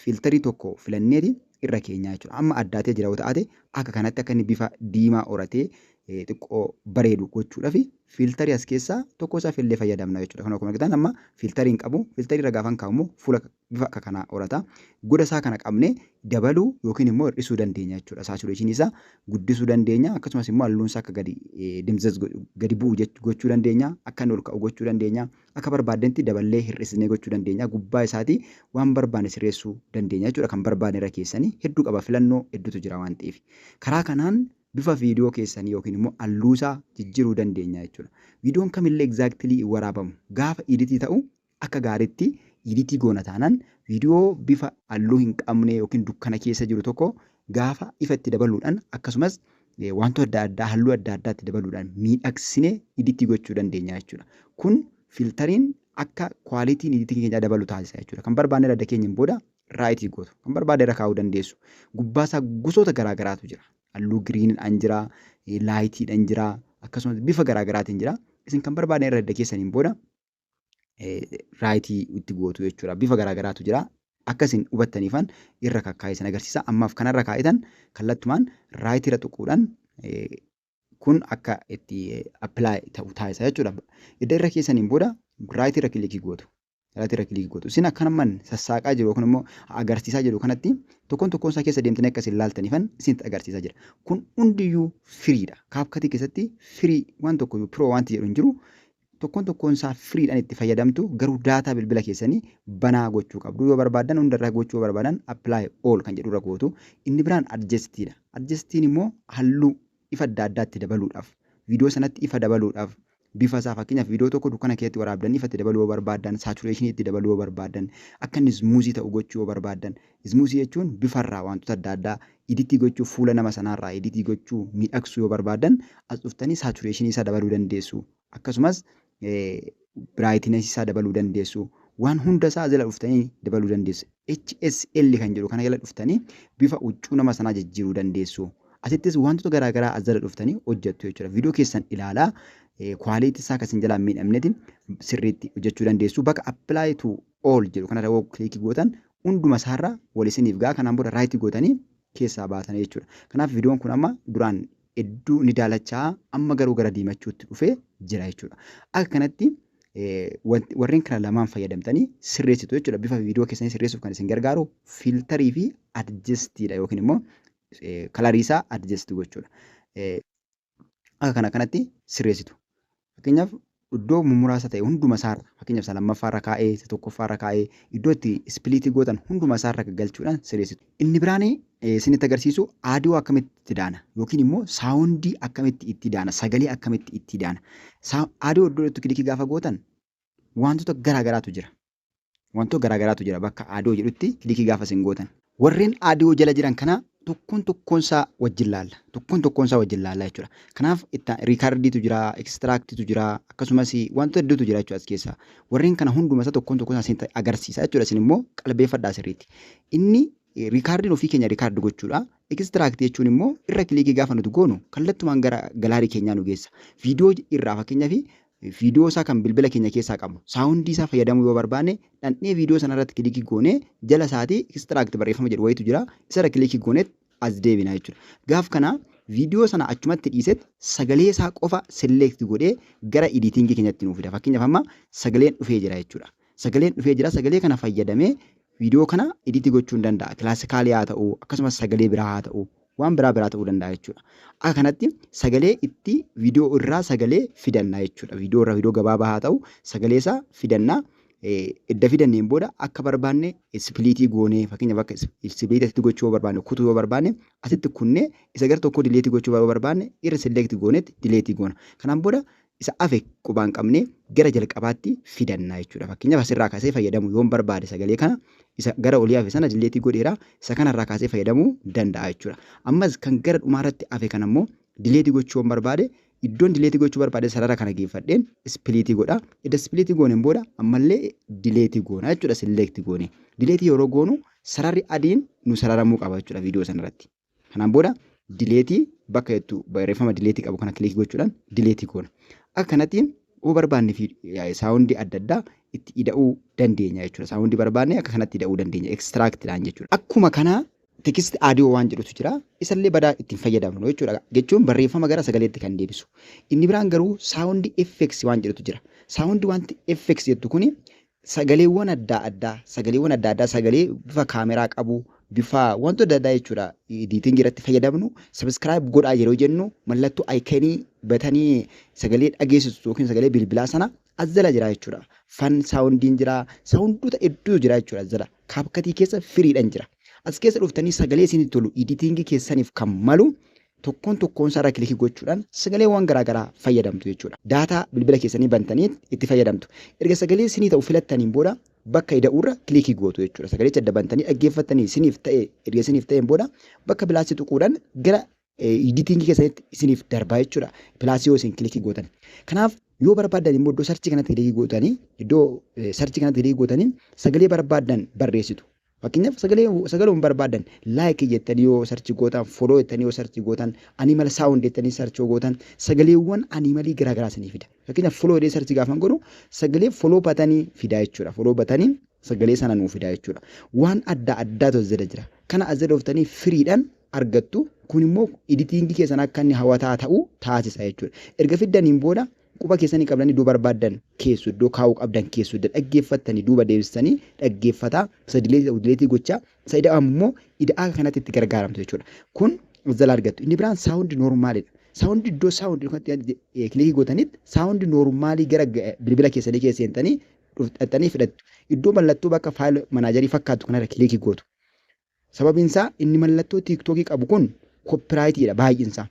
A: fiiltarii tokko filanneeti irra keenyaa jechuudha. Amma addaatee jira yoo ta'ate akka kanatti akka inni bifa diimaa horatee xiqqoo bareedu gochuudhaaf fiiltarii as keessaa tokko isaa fillee fayyadamna jechuudha. Kan akkuma argitan amma fiiltarii hin qabu. Fiiltarii irra gaafan kaa'u immoo fuula bifa akka kanaa horata. Goda isaa kana qabnee dabaluu yookiin immoo hir'isuu dandeenya jechuudha. Saatureeshinii isaa guddisuu dandeenya. Akkasumas immoo halluun isaa akka gadi dimzaz gadi bu'u gochuu dandeenya. Akka inni ol ka'u gochuu dandeenya. Akka barbaadnetti daballee hir'isnee gochuu dandeenya. Gubbaa isaatii waan barbaanne sirreessuu dandeenya jechuudha. Kan barbaanne irra keessanii hedduu qaba filannoo hedduutu jira waan ta'eef. Karaa kanaan bifa viidiyoo keessanii yookiin immoo halluu isaa jijjiiruu dandeenya jechuudha. Viidiyoon kamillee exactly hin waraabamu. Gaafa iditii ta'u Akka gaariitti iditii goona taanaan viidiyoo bifa halluu hin qabne yookiin dukkana keessa jiru tokko gaafa ifa itti dabaluudhaan akkasumas wantoota adda addaa halluu adda addaa itti dabaluudhaan miidhagsine iditii gochuu dandeenya jechuudha. Kun filtariin akka kwaalitiin iditii keenyaa dabalu taasisa jechuudha. Kan barbaanne irra dakeenyeen booda raayitii gootu. Kan barbaade irra kaa'uu dandeessu. Gubbaa isaa gosoota garaa garaatu jira. Halluu giriinidhaan jira, laayitiidhaan jira, akkasumas bifa garaa garaatiin jira. Isin kan barbaaddan irra edda keessaniin booda raayitii itti gootu jechuudha. Bifa garaagaraatu jira. Akka isin hubattaniifan irra kakkaa'ee isin agarsiisa. Ammaaf kanarra kaa'itan kallattumaan raayitiirra tuquudhaan kun akka itti appilaayi ta'u taasisa jechuudha. Edda irra keessaniin booda raayitiirra kilikii gootu. Raayitiirra kilikii gootu. Isin akkanummaan sassaaqaa jiru yookiin immoo agarsiisaa jiru kanatti tokkoon tokkoon isaa keessa deemtanii akka isin laaltaniifan isinitti agarsiisaa jira. Kun hundiyyuu firiidha. Kaapkatii keessatti firii waan tokkoyyuu piroo wanti jedhu hin jiru. Tokkoon tokkoon isaa free dhan itti fayyadamtu garuu data bilbila keessanii banaa gochuu qabdu yoo barbaadan hunda irra gochuu yoo barbaadan apply all kan jedhu irra gootu inni biraan adjust dha adjust immoo halluu ifa adda addaa itti dabaluudhaaf video sanatti ifa dabaluudhaaf bifa isaa fakkeenyaaf video tokko dukkana keessatti waraabdan ifa itti dabaluu yoo barbaadan saturation itti dabaluu yoo barbaadan akka inni smooth ta'u gochuu yoo barbaadan Ismuusii jechuun bifa irraa waantota adda addaa iditii gochuu fuula nama sanaa irraa iditii gochuu miidhagsuu yoo barbaaddan as dhuftanii saatureeshinii isaa dabaluu dandeessu akkasumas biraayitinasii isaa dabaluu dandeessu waan hunda isaa jala dhuftanii dabaluu dandeessu HSL kan jedhu kana jala dhuftanii bifa huccuu nama sanaa jijjiiruu dandeessu asittis waantota garaa garaa as jala dhuftanii hojjettu jechuudha viidiyoo keessan ilaalaa kwaaliitii isaa kan isin jalaa miidhamnetti sirriitti hojjechuu dandeessu bakka apply to all jedhu kanarra yoo kilikii gootan hunduma isaarra wal isiniif ga'a kanaan booda right gootanii keessaa baatana jechuudha. Kanaaf viidiyoon kun amma duraan hedduu ni daalachaa amma garuu gara diimachuutti dhufee jira jechuudha. Akka kanatti warreen kana lamaan fayyadamtanii sirreessitu jechuudha. Bifa viidiyoo keessanii sirreessuuf kan isin gargaaru fiiltarii fi adjestiidha yookiin immoo kalariisaa adjesti gochuudha. akka kana kanatti sirreessitu. Fakkeenyaaf iddoo mummuraasa ta'e hunduma isaarra fakkeenyaaf isa lammaffaarra kaa'ee isa tokkoffaarra kaa'ee iddoo itti ispiliitii gootan hunduma isaarra galchuudhaan sirreessitu. Inni biraan isinitti agarsiisu aadiyoo akkamitti itti daana yookiin immoo saawundii akkamitti itti daana sagalee akkamitti itti daana. Aadiyoo iddoo itti kilikii gaafa gootan wantoota garaa garaatu jira. Wantoota garaagaraatu jira bakka Adoo jedhutti kilikii gaafa isin gootan. Warreen Adoo jala jiran kana tokkoon tokkoon isaa wajjin laalla. Tokkoon tokkoon isaa wajjin laalla jechuudha. Kanaaf itti riikardiitu jira, ekistiraaktiitu jira, akkasumas wantoota hedduutu jira jechuudha as keessaa. Warreen kana hunduma isaa tokkoon tokkoon isaa isinitti agarsiisa jechuudha isin immoo qalbeeffadhaa sirriitti. Inni Riikaardiin ofii keenya record gochuudha. Extract jechuun immoo irra kiliikii gaafa nuti goonu kallattumaan gara galaarii keenyaa nu geessa. Viidiyoo irraa fakkeenyaaf viidiyoo isaa kan bilbila keenya keessaa qabu saawundii isaa fayyadamuu yoo barbaanne dhandhee viidiyoo sana irratti kiliikii goonee jala isaatii extract barreeffama jedhu wayitu jira isarra kiliikii gooneet as deebina jechuudha. Gaaf kana viidiyoo sana achumatti dhiiseet sagalee isaa qofa select godhee gara editing keenyatti nuuf fida. Fakkeenyaaf amma sagaleen dhufee jira jechuudha. Sagaleen dhufee jira sagalee kana fayyadamee viidiyoo kana iditi gochuun danda'a. Kilaasikaalii haa ta'u akkasumas sagalee biraa haa ta'u waan biraa biraa ta'uu danda'a jechuudha. Akka kanatti sagalee itti viidiyoo irraa sagalee fidanna jechuudha. Viidiyoo irraa viidiyoo gabaabaa haa ta'u sagalee isaa fidanna. Edda fidanneen booda akka barbaanne ispiliitii goonee fakkeenyaaf akka ispiliitii asitti gochuu yoo barbaanne kutuu yoo barbaanne asitti kunnee isa gara tokkoo dileetii gochuu yoo barbaanne irra select goonetti dileetii goona. Kanaan booda isa hafe qubaan qabnee gara jalqabaatti fidanna jechuudha. Fakkeenyaaf asirraa kaasee fayyadamuu yoon barbaade sagalee kana isa gara olii hafe sana dilleetii godheera isa kanarraa kaasee fayyadamuu danda'a jechuudha. Ammas kan gara dhumaarratti hafe kana immoo dilleetii gochuu yoon barbaade iddoon dilleetii gochuu barbaade sarara kana geeffadheen ispiliitii godha. Edda ispiliitii gooneen booda ammallee dileetii goona jechuudha silleektii goone. Dileetii yeroo goonu sararri adiin nu sararamuu qaba jechuudha viidiyoo sanarratti. Kanaan booda dileetii bakka jettu barreeffama dileetii qabu kana kilikii gochuudhaan dileetii goona. Akka kanatti yoo barbaanne fi saawundii adda addaa itti ida'uu dandeenya jechuudha. Saawundii barbaanne akka kanatti ida'uu dandeenya. Ekstiraaktiidhaan jechuudha. Akkuma kana tekisti aadiyoo waan jedhutu jira. Isallee badaa ittiin fayyadamnu jechuudha. Jechuun barreeffama gara sagaleetti kan deebisu. Inni biraan garuu saawundii effeksi waan jedhutu jira. Saawundii wanti effeksi jettu kuni Sagaleewwan addaa addaa, sagaleewwan addaa addaa sagalee bifa kaameraa qabu, bifa wantoota adda addaa jechuudha editing irratti fayyadamnu subscribe godhaa yeroo jennu mallattoo iconii batanii sagalee dhageessisu yookiin sagalee bilbilaa sana as jala jira jechuudha. Fan saawundiin jira, saawundoota hedduu jira jechuudha as jala. Kaapkatii keessa firiidhaan jira. As keessa dhuftanii sagalee isinii tolu editing keessaniif kan malu Tokkoon tokkoonsaa irra kilikii gochuudhaan sagaleewwan garaa garaa fayyadamtu jechuudha. Daataa bilbila keessanii bantanii itti fayyadamtu. Erga sagalee isinii ta'u filattaniin booda bakka ida'uurra kilikii gootu jechuudha. Sagalicha adda bantanii dhaggeeffattanii isiniif ta'e erga isiniif ta'een booda bakka pilaasii tuquudhaan gara editingii keessanitti isiniif darbaa jechuudha. Pilaasii yoo isin kilikii gootan. Kanaaf yoo barbaaddan immoo iddoo sarchii kanatti kilikii gootanii iddoo sarchii kanatti kilikii gootanii sagalee barbaaddan barreessitu. Fakkeenyaaf sagalee sagaluun barbaadan like jettanii yoo sarchi gootan follow jettanii yoo sarchi gootan animal sound jettanii sarchi yoo gootan sagaleewwan animalii garaa garaa isinii fida. Fakkeenyaaf follow jedhee sarchi gaafan godhu sagalee follow batanii fidaa jechuudha. Follow batanii sagalee sana nuu fidaa jechuudha. Waan adda addaatu as jala jira. Kana as jala dhuftanii firiidhaan argattu. Kun immoo editingii keessan akka inni hawataa ta'u taasisa jechuudha. Erga fiddaniin booda Quba keessanii qabdanii iddoo barbaaddan keessu, iddoo kaa'uu qabdan keessu, edda dhaggeeffattanii duuba deebistanii dhaggeeffataa, isa dileetii ta'u dileetii gochaa, isa ida'amu immoo ida'aa kanatti itti gargaaramtu jechuudha. Kun as jalaa argattu. Inni biraan saawundi noormaalidha. Saawundi iddoo saawundi kanatti kilikii gootanitti saawundi noormaalii gara bilbila keessanii keessa seentanii dhaqxanii fidhattu. Iddoo mallattoo bakka faayil manaajarii fakkaattu kanarra kilikii gootu. Sababiin isaa inni mallattoo tiiktookii qabu kun koppiraayitiidha baay'insaa.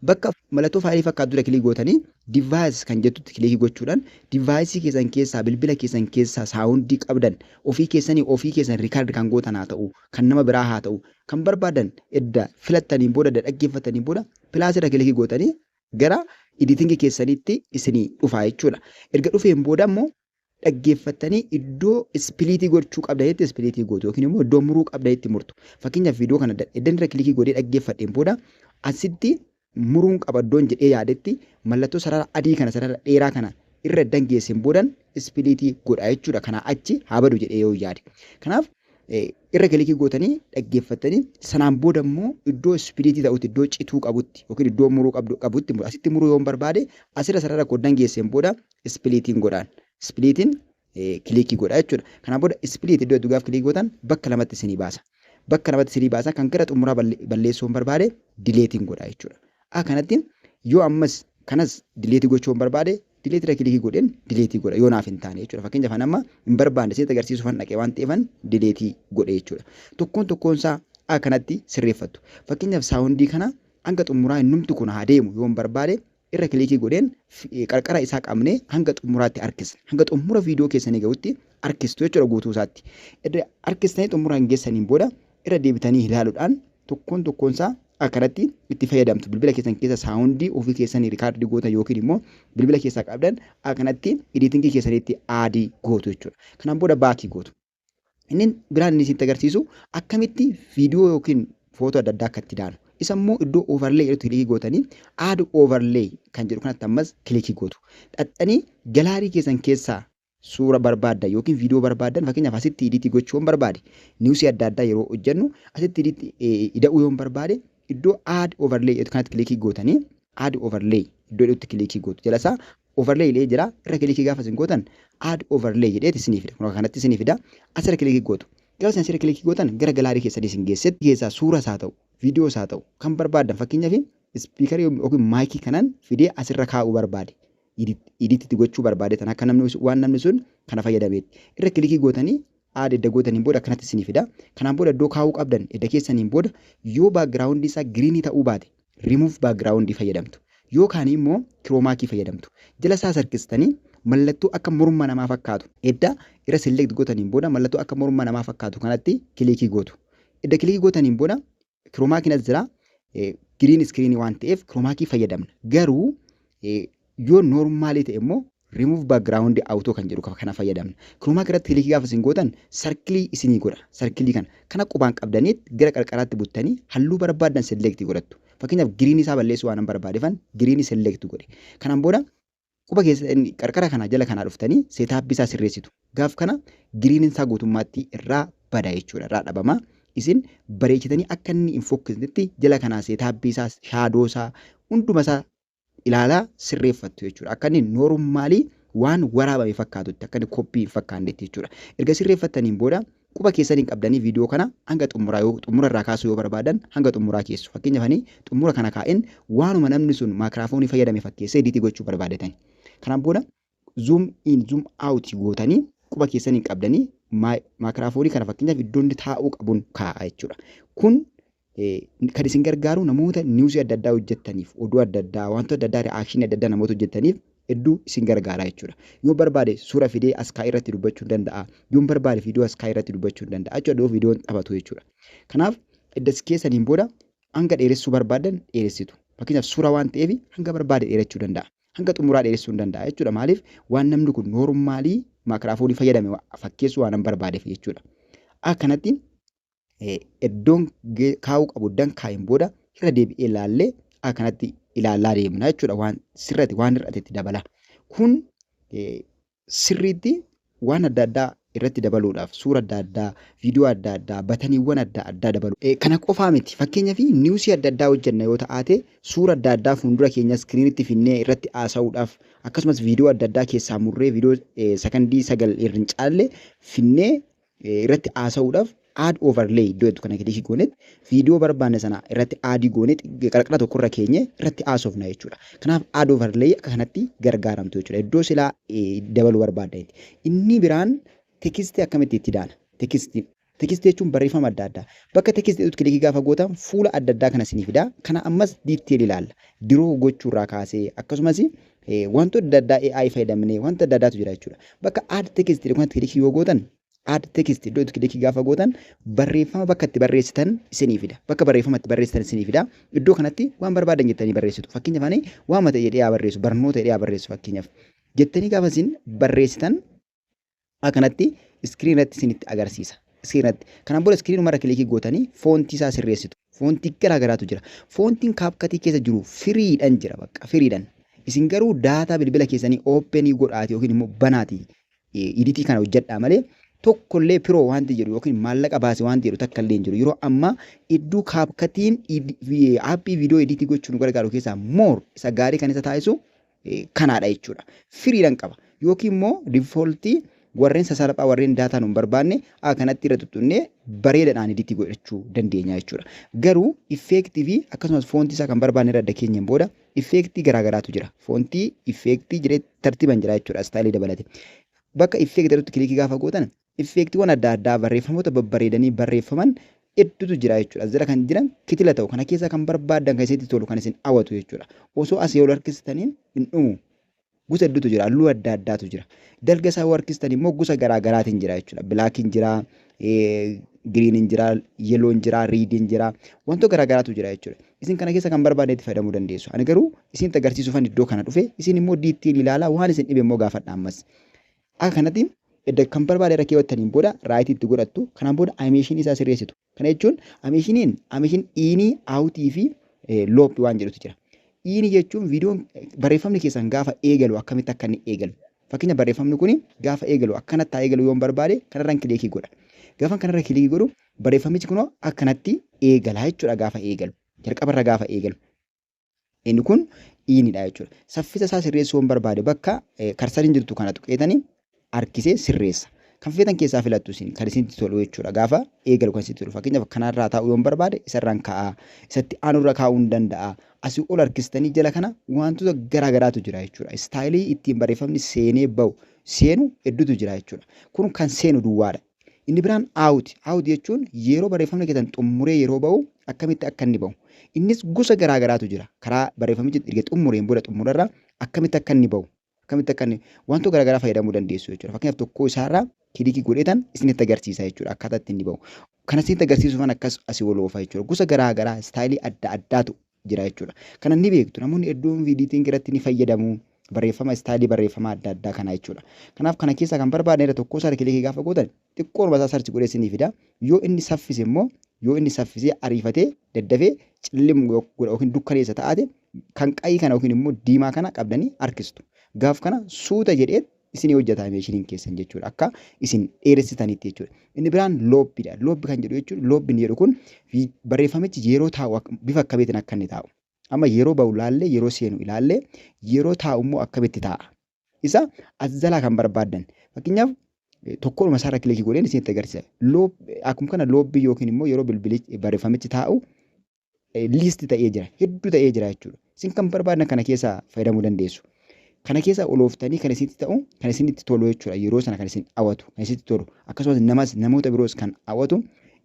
A: Bakka mallattoo faayilii fakkaatu dura kilik gootanii device kan jettutti kilikii gochuudhaan device keessan keessaa bilbila keessan keessaa saawundii qabdan ofii keessanii ofii keessan record kan gootan haa ta'u kan nama biraa haa ta'u kan barbaadan edda filattaniin booda edda dhaggeeffataniin booda plus irra kilikii gootanii gara editing keessaniitti isinii dhufaa jechuudha. Erga dhufeen booda immoo dhaggeeffattanii iddoo ispiliitii gochuu qabda jetti ispiliitii gootu yookiin immoo iddoo muruu qabda jetti murtu. Fakkeenyaaf viidiyoo kana eddan irra kilikii godhee dhaggeeffadheen booda asitti muruun qaba iddoon jedhee yaadetti mallattoo sarara adii kana sarara dheeraa kana irra eddan geesseen boodan ispiliitii godha jechuudha. Kanaa achi haa badu jedhee yoo yaade. Kanaaf irra kilikii gootanii dhaggeeffattanii sanaan booda immoo iddoo ispiliitii ta'utti iddoo cituu qabutti yookiin iddoo muruu qabdu qabutti asitti muruu yoon barbaade asirra sarara koo eddan geesseen booda ispiliitiin godhaan. Ispiliitiin kiliikii godha jechuudha. Kanaan booda ispiliit iddoo jettu gaafa kiliikii gootan bakka lamatti isinii baasa. Bakka lamatti isinii baasa kan gara xumuraa balleessuu hin barbaade dileetiin godha jechuudha. A kanatti yoo ammas kanas dileetii gochuu hin barbaade dileetii irra kiliikii godheen dileetii godha yoo naaf hin taane jechuudha. Fakkeenyaaf an amma hin barbaanne isinitti agarsiisuuf an dhaqee waan ta'eefan dileetii godhe jechuudha. Tokkoon tokkoon isaa A kanatti sirreeffattu. Fakkeenyaaf saawundii kana hanga xumuraa innumti kun haa deemu yoo hin barbaade irra kilikii godheen qarqara isaa qabnee hanga xumuraatti harkisna. Hanga xumura viidiyoo keessanii gahutti harkistu jechuudha guutuu isaatti. Irra harkistanii xumuraan geessaniin booda irra deebitanii ilaaluudhaan tokkoon tokkoon isaa akkanatti itti fayyadamtu. Bilbila keessan keessa saawundii ofii keessanii rikaardii gootan yookiin immoo bilbila keessaa qabdan akkanatti ediitingii keessaniitti aadii gootu jechuudha. Kanaan booda baakii gootu. Inni biraan inni isinitti agarsiisu akkamitti viidiyoo yookiin footoo adda addaa akka itti daanu. Isa immoo iddoo overlay jedhutti kilikii gootanii add overlay kan jedhu kanatti ammas kilikii gootu. Dhaxxanii galaarii keessan keessaa suura barbaaddan yookiin viidiyoo barbaaddan fakkeenyaaf asitti idiitii gochuu yoon barbaade niwusii adda addaa yeroo hojjennu asitti idiitti ida'uu yoon barbaade iddoo add overlay jedhu kanatti kilikii gootanii add overlay iddoo jedhutti kilikii gootu. Jalasaa Overlay jedhee jira. Irra kilikii gaafa isin gootan add overlay jedheeti isinii fida. Kun kanatti isinii fida. Asirra kilikii gootu. Gaafa isin asirra kilikii gootan gara galaarii keessanii isin geessetti keessaa suuras haa ta'u, viidiyoos haa ta'u kan barbaaddan fakkeenyaaf ispiikarii yookiin maayikii kanan fidee asirra kaa'uu barbaade. Idit itti gochuu barbaade tan akka namni waan namni sun kana fayyadameetti. Irra kilikii gootanii aad edda gootaniin booda akkanatti isinii fida. Kanaan booda iddoo kaa'uu qabdan edda keessaniin booda yoo baakgiraawundii isaa giriinii ta'uu baate remove background fayyadamtu yookaan immoo chroma key fayyadamtu jala isaa sarkistanii mallattoo akka morma namaa fakkaatu edda irra select gootaniin booda mallattoo akka morma namaa fakkaatu kanatti kilikii gootu edda kilikii gootaniin booda chroma key as jira green screen waan ta'eef chroma key fayyadamna garuu Yoo normaalii ta'e immoo remove background auto kan jedhu kana fayyadamna. Chroma key irratti kilikii gaafa isin gootan sarkilii isinii godha. Sarkilii kana kan akka qubaan qabdaniit gara qarqaraatti buttanii halluu barbaaddan select godhattu. Fakkeenyaaf green isaa balleessuu waanan barbaadefan green select godhe. Kanaan booda quba keessan qarqara kanaa jala kanaa dhuftanii setup isaa sirreessitu. Gaaf kana green isaa guutummaatti irraa bada jechuudha irraa dhabama. Isin bareechitanii akka inni hin fokkisnetti jala kanaa setup isaa shadow isaa hunduma isaa ilaalaa sirreeffattu jechuudha. Akka inni noormaalii waan waraabame fakkaatutti akka inni koppii hin fakkaannetti jechuudha. Erga sirreeffattaniin booda quba keessan hin qabdanii viidiyoo kana hanga xumuraa yoo xumura irraa kaasuu yoo barbaadan hanga xumuraa keessu. Fakkeenyaaf ani xumura kana kaa'een waanuma namni sun maakiraafoonii fayyadame fakkeessee ediitii gochuu barbaadatani. Kanaan booda zoom in zoom out gootanii quba keessaniin qabdanii maakraafoorii kana fakkeenyaaf iddoo inni taa'uu qabuun kaa'a jechuudha. Kun kan isin gargaaru namoota niwusii adda addaa hojjettaniif oduu adda addaa wantoota adda addaa ri'aakshinii adda addaa namoota hojjettaniif hedduu isin gargaara jechuudha. Yoo barbaade suura fidee as kaa'ee irratti dubbachuu ni danda'a. Yoo barbaade viidiyoo as kaa'ee irratti dubbachuu ni danda'a jechuudha. Yoo viidiyoon taphatu jechuudha. Kanaaf edda as keessaniin booda hanga dheeressuu barbaadan dheeressitu. Fakkeenyaaf suura waan ta'eef hanga barbaade dheerachuu danda'a. hanga xumuraa dheeressuu hin danda'a jechuudha. Maaliif waan namni kun noormaalii maakiraafoonii fayyadame wa- fakkeessuu waan hin barbaadeef jechuudha. A kanatti eh, iddoon ge- kaa'uu qabu dan kaa'een booda irra deebi'ee ilaallee A kanatti ilaalaa deemna jechuudha. Waan sirrate waan hir'atetti dabala. Kun eh, sirriitti waan adda addaa irratti dabaluudhaaf suura adda addaa, viidiyoo adda addaa, bataniiwwan adda addaa dabaluu. Kana qofaa miti fakkeenyaaf niwusii adda addaa hojjenna yoo ta'aate suura adda addaa fuundura keenya iskiriinitti finnee irratti haasa'uudhaaf akkasumas viidiyoo adda addaa keessaa murree viidiyoo sakandii sagal irrin caalle finnee irratti haasa'uudhaaf add overlay iddoo jettu kana kilikii goonet viidiyoo barbaanne sana irratti aadii goonet qarqara tokko irra keenye irratti haasofna jechuudha. Kanaaf add overlay akka kanatti gargaaramtu jechuudha. Iddoo silaa dabaluu barbaadda itti. Inni biraan tekisti akkamitti itti daana? Tekisti tekisti jechuun barreeffama adda addaa. Bakka tekisti jedhutti kilikii gaafa gootan fuula adda addaa kana isinii fida. Kana ammas diitteelii ilaalla. Diroo gochuurraa kaasee akkasumas Wantoota adda addaa AI fayyadamnee wanta adda addaatu jira jechuudha. Bakka add text jedhu kanatti kilikii yoo gootan add text iddoo itti kilikii gaafa gootan barreeffama bakka itti barreessitan isinii fida. Bakka barreeffama itti barreessitan isinii fida. Iddoo kanatti waan barbaadan jettanii barreessitu. Fakkeenyaaf ani waama ta'e jedhee haa barreessu barnoota jedhee haa barreessu fakkeenyaaf. Jettanii gaafa isin barreessitan Akkanatti iskiriin irratti isinitti agarsiisa. Iskiriin irratti. Kanaan booda iskiriin irra kilikii gootanii foontii isaa sirreessitu. Foontii garaa garaatu jira. Foontiin kaapkatii keessa jiru firiidhan jira bakka firiidhan. Isin garuu daataa bilbila keessanii ooppenii godhaati yookiin immoo banaati iditii kana hojjedhaa malee tokkollee piroo wanti jedhu yookiin maallaqa baasi wanti jedhu takka illee hin jiru. Yeroo ammaa iddoo kaapkatiin aappii viidiyoo iditii gochuu nu gargaaru keessaa moor isa gaarii kan isa taasisu kanaadha jechuudha. Firiidhaan qaba. Yookiin immoo difooltii warreen sasalphaa warreen daataa nu hin barbaanne kanatti irra tuttunnee bareedadhaan iditii godhachuu dandeenya jechuudha. Garuu effeektii fi akkasumas foontii isaa kan barbaanne irra adda keenyaan booda effeektii garaagaraatu jira. Foontii effeektii jedhee tartiibaan jira jechuudha istaayilii dabalate. Bakka effeektii jedhutti kilikii gaafa gootan Iffeektiiwwan adda addaa barreeffamoota babbareedanii barreeffaman heddutu jira jechuudha. As jala kan jiran kitila ta'u. Kana keessaa kan barbaaddan kan isinitti tolu kan isin hawatu jechuudha. Osoo asii ol harkistaniin hin dhumu. Gosa hedduutu jira. Halluu adda addaatu jira. Dalga isaa yoo harkistan immoo gosa garaa garaatiin jira jechuudha. Bilaakiin jira, giriiniin jira, yeloon jira, riidiin jira. Wantoota garaa garaatu jira jechuudha. Isin kana keessa kan barbaadne itti fayyadamuu dandeessu. Ani garuu isinitti agarsiisuufan iddoo kana dhufe. Isin immoo diittiin ilaalaa waan isin dhibe immoo gaafadha ammas. Akka kanatti edda kan barbaade irra keewwattaniin booda right itti godhattu. Kanaan booda animation isaa sirreessitu. Kana jechuun animationiin animation in, out fi loop waan jedhutu jira. In jechuun viidiyoon barreeffamni keessan gaafa eegalu akkamitti akka inni eegalu. Fakkeenya barreeffamni kun gaafa eegalu akkanatti haa eegalu yoon barbaade kanarran kiliikii godha. Gaafan kanarra kiliikii godhu barreeffamichi kunoo akkanatti eegala jechuudha gaafa eegalu. Jalqabarra gaafa eegalu. Inni kun dhiinidha jechuudha. Saffisa isaa sirreessuu waan barbaade bakka karsariin jirtu kana tuqeetanii harkisee sirreessa. Kan feetan keessaa filattu isin kan isinitti tolu jechuudha. Gaafa eegalu kan isinitti tolu. Fakkeenyaaf kanarraa taa'uu yoon barbaade isarraan ka'aa. Isatti aanurra kaa'uun danda'a. Asii ol harkistanii jala kana wantoota garaa garaatu jira jechuudha. Istaayilii ittiin barreeffamni seenee bahu seenu hedduutu jira jechuudha. Kun kan seenu duwwaadha. Inni biraan out. Out jechuun yeroo barreeffamni keessan xumuree yeroo ba'u akkamitti akka inni ba'u. Innis gosa garaa garaatu jira. Karaa barreeffamichi erga xumureen booda xumurarra akkamitti akka inni ba'u. Akkamitti akka inni wantoota garaa garaa fayyadamuu dandeessu jechuudha. Fakkeenyaaf tokkoo isaarraa kilikii godheetan isinitti agarsiisa jechuudha akkaataa itti inni ba'u. Kana isinitti agarsiisuufan akkas asii ol oofa jechuudha. Gosa garaa garaa istaayilii adda addaatu jira jechuudha. Kana ni beektu namoonni hedduun viidiitiin irratti ni fayyadamu. Barreeffama istaadii barreeffama adda addaa kana jechuudha. Kanaaf kana keessaa kan barbaadne irra tokkoo isaati kilikii gaafa gootan xiqqoo masaa sarchi godhee isinii fida. Yoo inni saffise immoo yoo inni saffisee ariifatee daddafee cillim godha yookiin dukkaneessa ta'aate kan qayii kana yookiin immoo diimaa kana qabdanii harkistu. Gaaf kana suuta jedhee isinii hojjetaa meeshiniin keessan jechuudha. Akka isin dheeressitanitti jechuudha. Inni biraan loobbidha. Loobbi kan jedhu jechuun loobbi inni jedhu kun barreeffamichi yeroo taa'u bifa akkamiitiin akka inni taa'u. Amma yeroo ba'u ilaallee yeroo seenu ilaallee yeroo taa'u immoo akkamitti taa'a. Isa as jalaa kan barbaaddan. Fakkeenyaaf tokkoodhuma isaarra kilikii godheen isinitti agarsiisa. Akkuma kana loobbii yookiin immoo yeroo bilbili barreeffamichi taa'u list ta'ee jira hedduu ta'ee jira jechuudha isin kan barbaadan kana keessaa fayyadamuu dandeessu kana keessaa olooftanii kan isinitti ta'u kan isinitti tolu jechuudha yeroo sana kan isin hawwatu kan isinitti tolu akkasumas namas namoota biroos kan hawwatu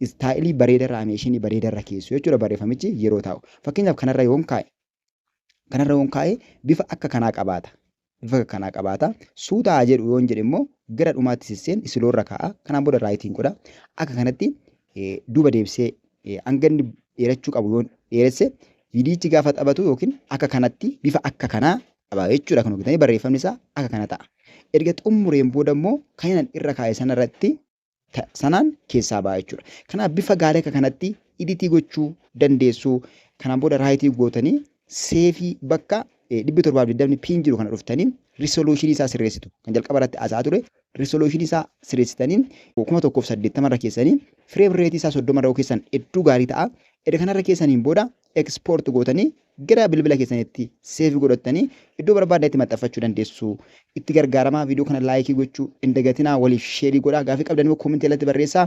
A: istaayilii bareedarra ameeshinii bareedarra keessu jechuudha barreeffamichi yeroo taa'u fakkeenyaaf kanarra yoon kaa'e Kanarra yoon kaa'e bifa akka kanaa qabaata. Bifa akka kanaa qabaata. Suuta haa jedhu yoon jedhe immoo gara dhumaatti sisseen isiloo irra kaa'a. Kanaan booda raayitiin godha. Akka kanatti duuba deebisee hanga inni dheerachuu qabu yoon dheeresse viidiyichi gaafa taphatu yookiin akka kanatti bifa akka kanaa qaba jechuudha. Kan hojjetanii barreeffamni isaa akka kana ta'a. Erga xumureen booda immoo kan inni irra kaa'e sanarratti ta, sanaan keessaa ba'a jechuudha. Kanaaf bifa gaarii akka kanatti iditii gochuu dandeessu. Kanaan booda raayitii gootanii seefii bakka 720 piin jiru kana dhuftanii risoluushinii isaa sirreessitu. Kan jalqaba irratti haasa'aa ture risoluushinii isaa sirreessitanii 1080 irra keessanii fireem reetii isaa 30 irra keessan hedduu gaarii ta'a. Erga kanarra keessaniin booda export gootanii gara bilbila keessanitti save godhattanii iddoo barbaadanitti maxxanfachuu dandeessu. Itti gargaaramaa viidiyoo kana laayikii gochuu hin dagatinaa waliif sheerii godhaa gaafii qabdan immoo koomentii jalatti barreessaa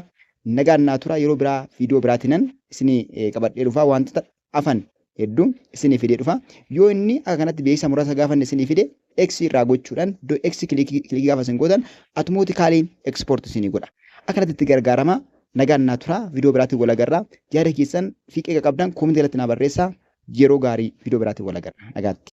A: nagaan naa tura yeroo biraa viidiyoo biraatinan isinii qabadhee dhufaa wantoota afan hedduu isinii fidee dhufa yoo inni akka kanatti beeksisa muraasa gaafanne isinii fide X irraa gochuudhaan iddoo X kilikii gaafa isin gootan automatically export isinii godha. Akkanatti itti gargaarama. Nagaan naa tura. Viidiyoo biraatiin wal agarra. Yaada keessan fi qeeqa qabdan koomentii irratti naa barreessa. Yeroo gaarii viidiyoo biraatiin wal agarra. Nagaatti.